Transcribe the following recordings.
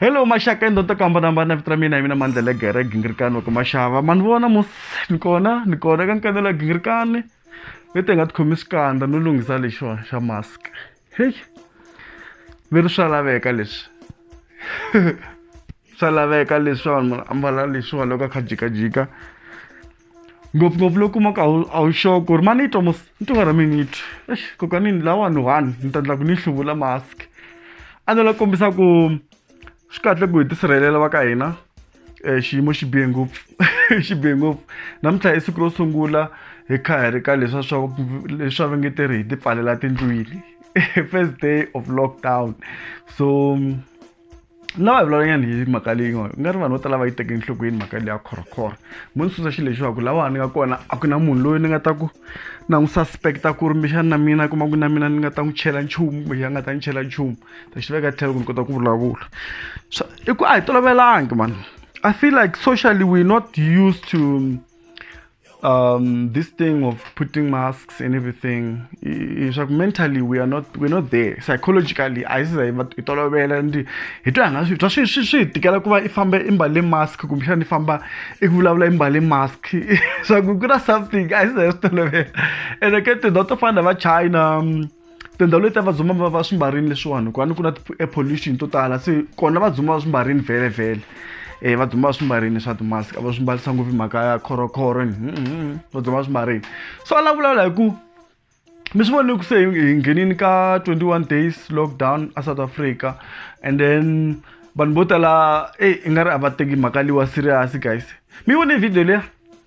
hello maxaka endhonto ku hambanahambana vito ra mina hi mina mandlela gere gingirikani wa ku maxava ma ni vona mos ni kona ni kona ka nkanelo ya gingirikani leti hi nga tikhomi xikandza no lunghisa lexiwani xa mask hey mi ri swa laveka leswi swa laveka leswi vanhu ambala leswiwa loko a kha jikajika ngopfungopfu loko kuma ku a wu a wu sure ku ri ma ni twa mos ni twa nga ri mi ni twi ex kokanini lawani one ni ta endla ku ni hluvula mask a ndzi la kombisa ku swi kahle ku hi tisirhelela va ka hina um xiyimo xi bihe ngopfu xi bihe ngopfu namuntlha i siku ro sungula hi kha hi ri ka leswa swa leswa va nge te ri hi ti pfalela tindlwini first day of lockdown so lava hi vulavulanyana hi mhaka leyi nga nga ri vanhu vo tala va yi teke enhlokweni mhaka leyi ya khorokhoro mo ni susa xilo lexiwaku lawa ni nga kona a ku na munhu loyi ni nga ta ku na n'wi suspect-a ku ri mbexani na mina kuma ku na mina ni nga ta n'wi chela nchumu kumbe a nga ta ni chela nchumu ta xi veka tlhelo ku ni kota ku vulavula so i ku a hi tolovelangi mani i feel like socially we're not used to um, this thing of putting masks and everything is like mentally we are not we're not there psychologically a yi siza hi hi tolovela and hi twa nga swi twa swi swi swi hi tikela ku va i famba i mbale mask kumbexana i famba i vulavula i mbale mask swa ku ku na something a yi siza hi swi tolovela and i get to not to find va china um, tindhawu leti a vadzima va va swi mbarini leswiwani hikuva ni ku na ti-air pollution to tala se kona vadzima va swi mbarini vhele vhele um vadzima va swi mbarini swa ti-mask a va swi mbarisa ngopfu mhaka ya khorokhoro vadzima va swi mbarini so a la vulavula hi ku mi swi vone ku se hi nghenini ka 21 days lockdown a south africa and then vanhu vo tala eyi i nga ri a va teki mhaka liwa serious guys mi vone video leya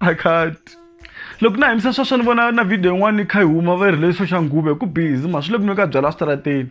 I can't. loko na himisa sweswo ni vona na video yin'wana yi kha yi huma va yi rhilesiswa xa nghuve ku bizi mhani swi le ku nwe ka byala switarateni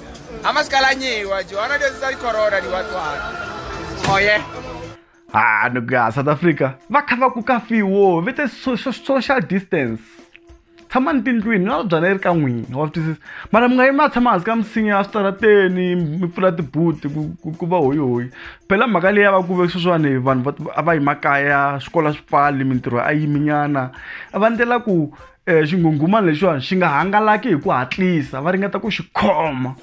Amasikalanyeiwa Johanna desi sari corona liwatwara. Oh yeah. ha nigga south africa va kha va ku ka fiwo vete so- so- social distance tshama ni tindlwini na byala yi ri ka n'wina wa swi twisisa mara mi nga yimi a tshama hansi ka misinya ya switarateni mi pfula tibuti ku- ku- ku va hoyihoyi phela mhaka leyi ya va ku ve sweswiwani vanhu va- a va yi makaya swikolo swi pfali mintirho a yiminyana a va ndlela ku um xinghunghumani lexiwani xi nga hangalaki hi ku hatlisa va ringeta ku xi khoma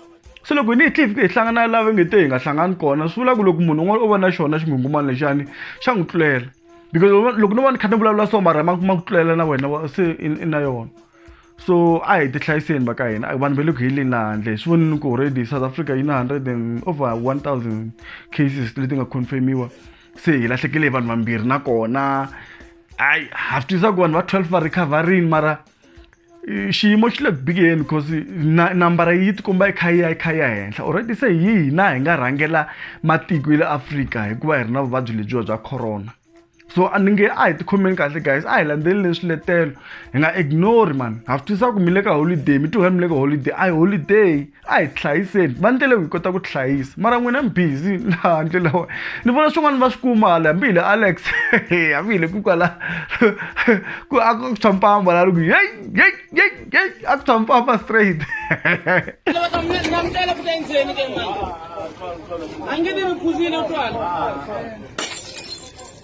se loko hi ni hi tlhe hi hlangana lava nge te hi nga hlangani kona swi vula ku loko munhu un'wana o va na xona xinghungumani lexani xa n'wi tlulela because loko no va ni kha ni vulavula so mara ma ku tlulela na wena se i na yona so a hi tihlayiseni va ka hina vanhu va le ku heleni la handle swi vonini ku already south africa yi na hundred and over one thousand cases leti nga confirmiwa se hi lahlekele hi vanhu vambirhi nakona hayi ha swi twisaka vanhu va 12 va recoverini mara xiyimo xi le ku bikeni because nambara yi tikomba yi kha yi ya yi kha yi ya henhla already se hi hina hi nga rhangela matiko ya le afrika hikuva hi ri na vuvabyi lebyiwa bya corona so a ni nge a hi tikhomeni kahle guys a hi landzeleleni swiletelo hi nga ignore mani ha swi twisaka ku mi le ka holiday mi tiwela mi le ka holiday a hi holiday a hi tihlayiseni va ndlela yo hi kota ku tihlayisa mara n'wina mi busy laha ndlela wa ni vona swin'wana va swi kuma hala hambi hi le alex hambi hi le ku kwala ku a ku tshwa mpamba la loko yey yey yey yey a ku tshwa mpamba straight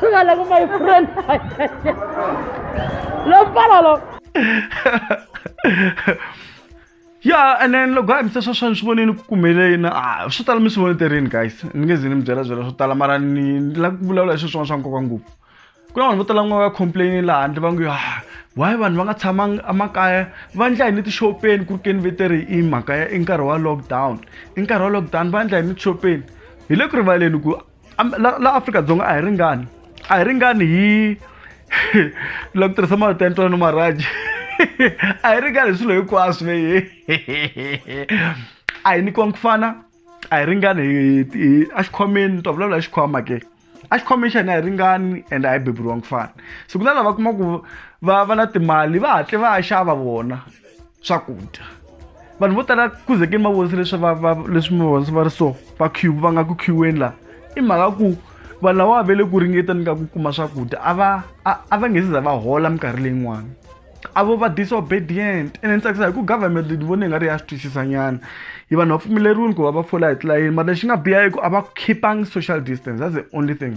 Gala ko my friend. Lo pala lo. ya and then loko a mi se swa swani swi voneni ku kumeleni a swo tala mi swi voneterini guys ni nge ze ni mi byela byela swo tala mara ni la ku vulavula hi swi swin'wana swa nkoka ngopfu ku na vanhu vo tala n'wana va complaini laha handle va ngo ah why vanhu va nga tshamanga emakaya va endla hi ni tixopeni ku ri keni veteri i mhaka ya i nkarhi wa lockdown i nkarhi wa lockdown va endla hi ni tixopeni hi le ku rivaleni ku la la Afrika-Dzonga a hi ringani a hi ringani hi la ku tirhisa marito ya ntwanano maraji a hi ringani hi swilo hinkwaswo leyi a hi nyikiwangi ku fana a hi ringani hi a xikhwameni ta vulavula hi xikhwama ke a xikhwameni xa hina a hi ringani and a hi beburiwangi ku fana se ku na lava kuma ku va va na timali va hatle va ya xava vona swakudya vanhu vo tala kuzekeni va vonise leswi va va leswi mi vonise va ri so va queue va nga ku queueni laha i mhaka ku vanhu lava ve le ku ringeteni ka ku kuma swakudya a va a va nge se za va hola minkarhi leyin'wana a vo va disobedient ene ni tsakisa hi ku government ni vone nga ri ya swi twisisanyana hi vanhu va pfumeleriwile ku va va fola hi tilayeni mara lexi nga biha i ku a va khipangi social distance that's the only thing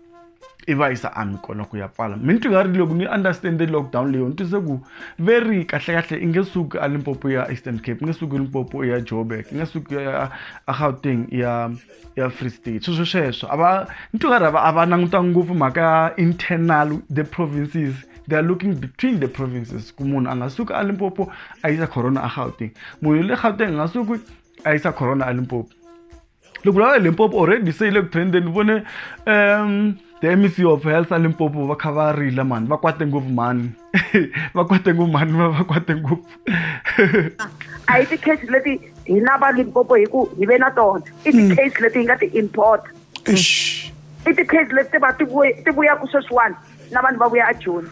i va yisa ami kona ku ya pfala mi ni twi nga ri loko ni understand lockdown leyo ni twise ku ve ri kahlekahle i nge suki a limpopo ya eastern cape i nge suki limpopo ya joburg i nge suki ya a gauteng ya ya free state sweswo sweswo a va ni twi nga ri a va languta ngopfu mhaka ya internal the provinces they are looking between the provinces ku munhu a nga suki a limpopo a yisa corona a gauteng munhu le gauteng a nga suki a yisa corona a limpopo loko la limpopo already se yi le ku trendeni vone um the mec of health a limpopo va kha va rila mani va kwate ngopfu mani va kwate ngopfu mani va va kwate ngopfu a hi ti-case leti hina va limpopo hi ku hi ve na tona i hmm. ti-case leti hi nga ti-import i ti-case leti ti va ti vuyaku sweswiwani na vanhu va vuya a joni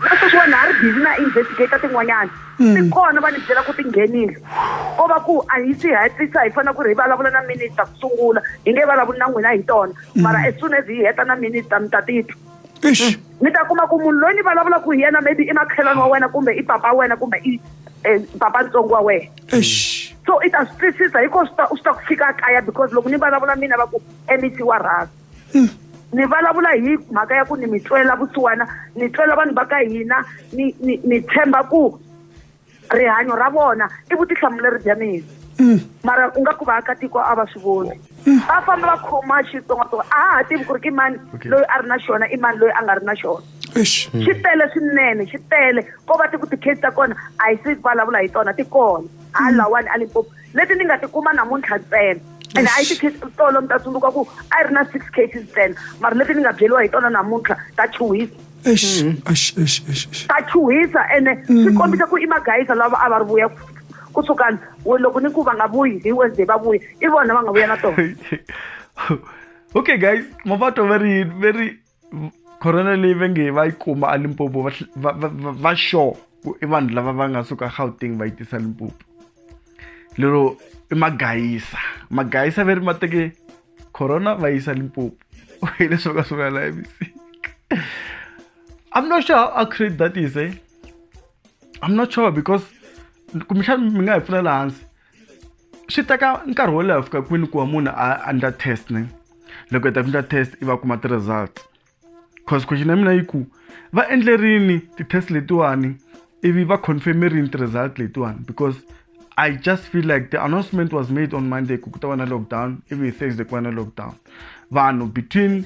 na sweswiwani ha ri busy na investigator tin'wanyana ti kona va ni byela ku ti nghenile ko va ku a hi swi hetlisa hi fanele ku ri hi vulavula na minister ku sungula hi nge vulavuli na n'wina hi tona mara as soon as hi heta na minister mi ta titwa Eish. mi ta kuma ku munhu loyi ni vulavula ku hi yena maybe i makhelwani wa wena kumbe i papa wa wena kumbe i eh, papa ntsongo wa wena Eish. so i ta swi twisisa hiko swi ta swi ta ku fika kaya because loko ni vulavula mina va ku mec wa rhasa hmm. ni vulavula hi mhaka ya ku ni mi twela vusiwana ni twela vanhu va ka hina ni ni ni tshemba ku rihanyo ra vona i vutihlamuleri bya mina hmm. mara u nga ku vaakatiko a va swi voni hmm. va famba va khoma xitsongatsonga a ha ha tivi ku ri ki mani loyi a ri na xona i mani loyi a nga ri na xona xi tele swinene xi tele ko va ti ku ti-case ta kona a hi si vulavula hi tona ti kona halawani a limpopo leti ni nga ti kuma namuntlha ntsena and a yi ti case tolo mi ta tsundzuka ku a yi ri na six cases ntsena mara leti ni nga byeriwa hi tona namuntlha ta chuhisa Eish, Mm. eish, eish, eish, eish. ta chuhisa ene Mm. swi kombisa ku i magayisa lava a va ri vuya ku- ku sukani we loko ni ku va nga vuyi hi wednesday va vuya i vona va nga vuya na tona okay guys mapato very very corona leyi va nge va yi kuma alimpopo va sure ku i vanhu lava va nga suka gauteng va yi tisa limpopo lero i magayisa magayisa ve ri ma teke corona va yisa limpopo hi leswi va nga swi vulela emisika i'm not sure how accurate that is eh i'm not sure because kumbexana mi nga hi pfulela hansi swi teka nkarhi wo leha fika kwini ku va munhu a endla test ne loko hi ta ku endla test i va kuma ti-results cause question ya mina yi ku va endlerini ti-test letiwani ivi va confirmerini ti-result letiwani because i just feel like the announcement was made on monday ku ku ta va na lockdown ivi hi thursday ku va na lockdown vanhu between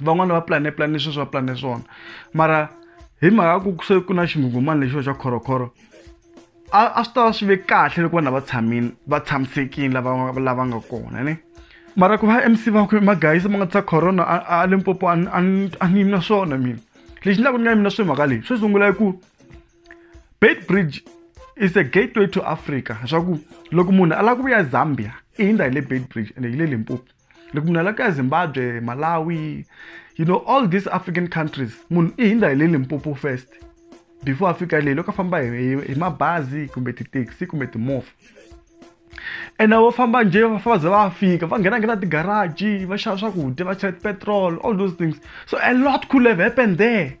van'wani va plane plane sweswi va plane swona mara hi mhaka ku se ku na xinghunghumani lexiwa xa khorokhoro a a swi tava swi ve kahle loko vanhu lava tshamini va tshamisekile lava lava nga kona ni mara ku va mc va ku magayisa ma nga tisa corona a limpopo a ni yimi na swona mina lexi ndlaku ni nga yimi na swi mhaka leyi swo sungula i ku bait bridge is a gateway to africa swa ku loko munhu a lava ku vuya zambia i hindza hi le bait bridge ende hi le limpopo loko munhu alaka ya zimbabwe malawi you know all these african countries munhu i hindza hi le limpopo first before a fika leyi loko a famba hi mabazi kumbe tithekisi kumbe timovha ene vo famba njhe va fa va za va fika va nghena nghena tigaraji va xava swakudya va chela petrol all those things so a lot could have happened there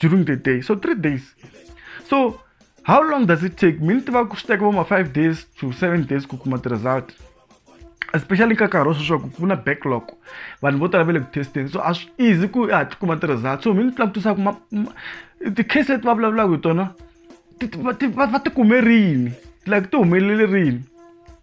during the day so three days so how long does it take mi ni tiva ku swi teka vo ma five days to seven days ku kuma ti-result especially ka nkarhi wa sweswi ku ku na backlog vanhu vo tala va le ku testeni so a swi easy ku ha ti kuma ti-result so mi ni langutisa ku ti-case leti va vulavulaka hi tona va ti kume rini like ti humelele rini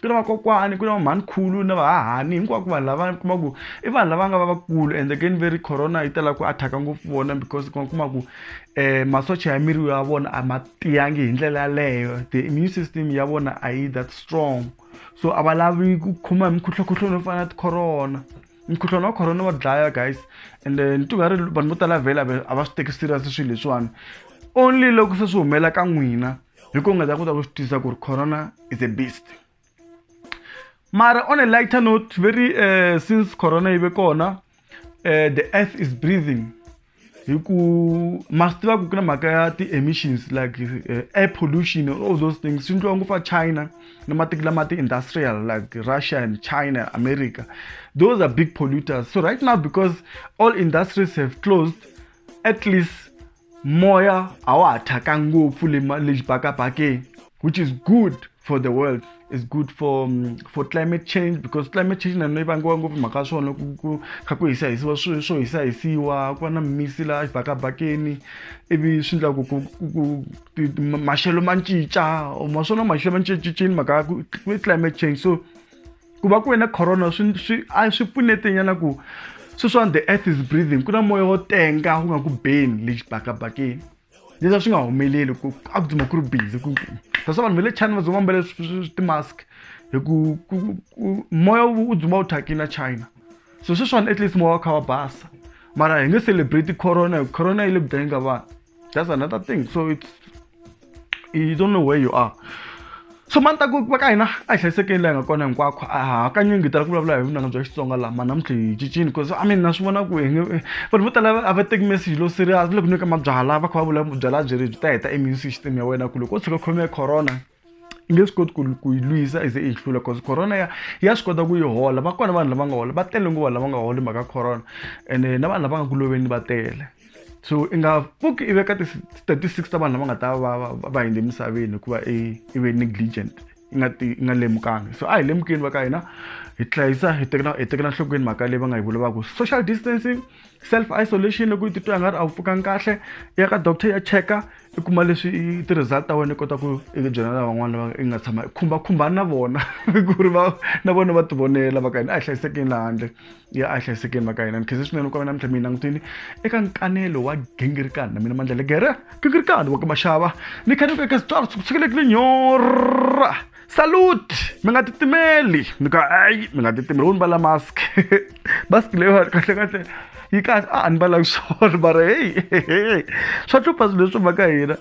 ku na vakokwani ku na vamhanikhulu na vahahani hinkwako vanhu lava kuma ku i vanhu lava nga va vakulu and again veri corona yi tala ku athaka ngopfu vona because kuma kuma ku um masocha ya miri ya vona a ma tiyangi hi ndlela yaleyo the immune system ya vona a yi that strong so a va lavi ku khoma hi mikhuhlwakhuhlwa no fana na ticorona mukhuhlwana wa corona wa dlaya guys and eh, ni tingari vanhu vo tala vhela a va swi teki serious swilo leswiwani only loko se swi humela ka n'wina hi ku nga za ku ta ku swi tisa ku ri corona is a beast mara on a lighter note very uh, since corona yi ve kona uh, the earth is breathing hi ku ma swi tiva ku ku na mhaka ya ti-emissions like uh, air pollution all those things swi ndliwa ngopfu a china na matiko lama ti-industrial like russia and china america those are big polluters so right now because all industries have closed at least moya a wa ha thyaka ngopfu le le xibakabakeni which is good for the world is good for um, for climate change because climate change na yi vangiwa ngopfu mhaka ya swona ku kha ku hisa hisiwa swilo swo hisa hisiwa ku va na misi laha xibakabakeni ivi swi endla ku ku maxelo ma cinca ma swona maxelo ma cincacini mhaka ya ku climate change so ku va ku ve na corona swi swi a swi pfunetenyana ku sweswiwani the earth is breathing ku na moya wo tenga wu nga ku beni le xibakabakeni leswi a swi nga humeleli ku a ku dzima ku ri bizi ku that's vanhu va le china va dzima mbale ti-mask hi ku moya wu dzima wu thyakile na china so sweswiwani at least moya wa kha wa basa mara hi nge celebrate corona hi corona yi le ku dlayeni ka vanhu that's another thing so it's you don't know where you are so mani ta ku va ka hina a hi hlayisekeli laha hi nga kona hinkwakho a ha hakanyingi hi tala ku vulavula hi vunanga bya xitsonga laha ma namuntlha hi cincini bcause i mean na swi vona ku hi nge vanhu vo tala a va teki message lo serious loko nyika mabyala va kha va vula byala byi ri byi ta heta immune system ya wena ku loko o tshuka khome corona yi nge swi koti ku ku yi lwisa i ze i yi hlula cause corona ya ya swi kota ku yi hola va kona vanhu lava nga hola va tele ngopfu vanhu lava nga holi mhaka corona ene na vanhu lava nga ku loveni va tele so i nga pfuki i veka ti-statistics ta vanhu lava nga ta va va va hindze emisaveni hikuva i i ve negligent i nga ti i nga lemukanga so a hi lemukeni va ka hina hi hlayisa hi tekela hi tekela nhlokweni mhaka leyi va nga yi vulavaku social distancing self isolation loko u titwa nga ri a wu pfukanga kahle i ya ka doctor ya cheka i kuma leswi i ti-result ta wena i kota ku i byela lavan'wana lava i nga tshama i khumbakhumbani na vona ku ri va na vona va tivonela va ka hina a hi hlayisekeni laha handle ya a hi hlayisekeni va ka hina ni khense swinene ku va namuntlha mi yi langutini eka nkanelo wa gingirikani na mina mandlela gere gingirikani wa ka maxava ni khaneke eka switswalo swi ku tshikelekile nyora salute mi nga titimeli ni ka ayi mi nga titimeli wo ni vala mask mask leyiwani kahle kahle yi kahle a ni valanga swona mara heyi swa hlupha swilo leswi mhaka hina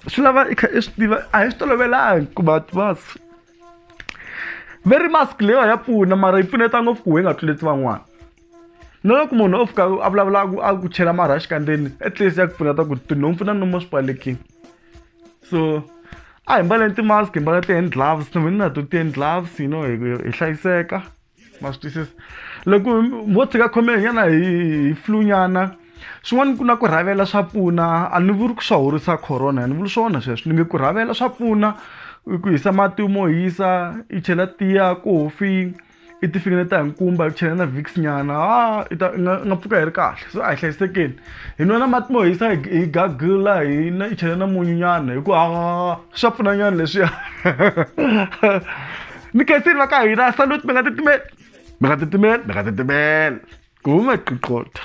swi lava i kha i swi tiva a hi swi tolovelanga ku va mask very mask leyiwa ya pfuna mara yi pfuneta ngopfu ku hi nga tluleti van'wana na loko munhu o fika a vulavula a ku chela marhaxi kandzeni at least ya ku pfuneta ku tinhompfu na nomo swi pfalekile so a hi mbaleni ti-mask hi mbala ti-hand gloves na mina na to ti-hand gloves you know hi hlayiseka ma swi twisisa loko mo tshika khome nyana hi hi flunyana swin'wana ku na ku rhavela swa pfuna a ni vuri ku swa horisa corona a ni vuli swona sweswo ni nge ku rhavela swa pfuna ku hisa mati mo hisa i chela tiya kofi i tifikile ta hi nkumba hi chela na vix nyana ha i ta nga nga pfuka hi ri kahle so a hi hlayisekeni hi nwa na mati mo hisa hi gagula hi na i chela na munyu nyana hi ku ha swa pfuna nyana leswiya ni khensini va ka hina salute mi nga titimeli mi nga titimeli mi nga titimeli ku huma qiqotha